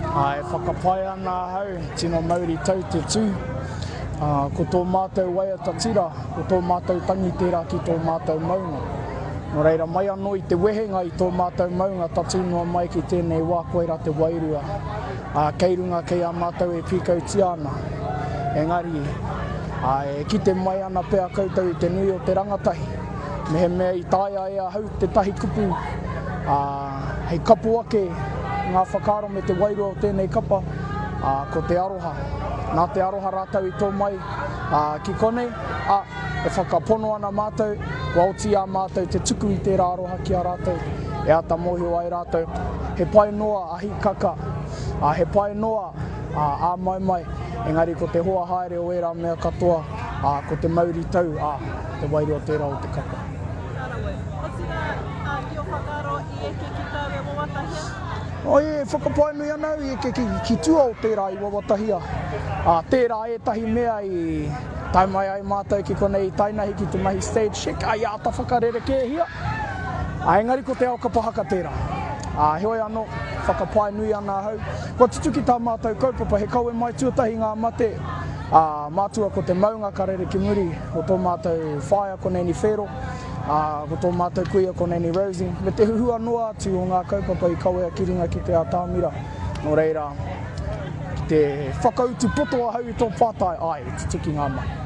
Ā, e whakapae ana ahau, tino mauri tau te tū. Ā, ko tō mātou waiata tira, ko tō mātou tangi tērā ki tō mātou maunga. Nō reira, mai anō i te wehenga i tō mātou maunga tatū noa mai ki tēnei wā koirā te wairua, ā, kei runga kei a mātou e pīkautia ana. Engari, ā, e kite mai ana pea koutou i te nui o te rangatahi. Mehemea i taea e ahau tētahi kupu, ā, hei kapo ake ngā whakaaro me te wairua o tēnei kapa, ā, ko te aroha. Nā te aroha rātou i tō mai, ā, ki konei, ā, e whakapono ana mātou, kua oti ā mātou te tuku i tērā aroha ki a rātou, e āta mōhio ai rātou, he pai noa a Hikaka, ā, he pai noa, ā, a Maimai, engari ko te hoa haere o ērā mea katoa, ā, ko te mauritau, ā, Te wairua tērā o te kapa. Ka rawe. Otirā, ki ō whakaaro i eke ki tāu e wawatahia? E whakapae nui ana au i eke ki tua o tērā i wawatahia, ā, tērā ētahi mea i tae mai ai mātou ki konei i tainahi ki te mahi stage check i āta whakarerekēhia, ā, engari ko te ao kapa haka tērā. Ā, heoi anō, whakapae nui ana ahau, kua tutuki tā mātou kaupapa he kawe mai tuatahi ngā mate, Ā, mātua ko te maunga ka rere ki muri, ko tō mātou whaea ko Nanny Whero, ā, ko tō mātou kuia ko Nanny Rosie, me te huhua noa atu o ngā kaupapa i kawea ki runga ki te atamira. Nō reira, ki te whakautu poto ahau i tō pātai, āe, i tutuki ngā mahi.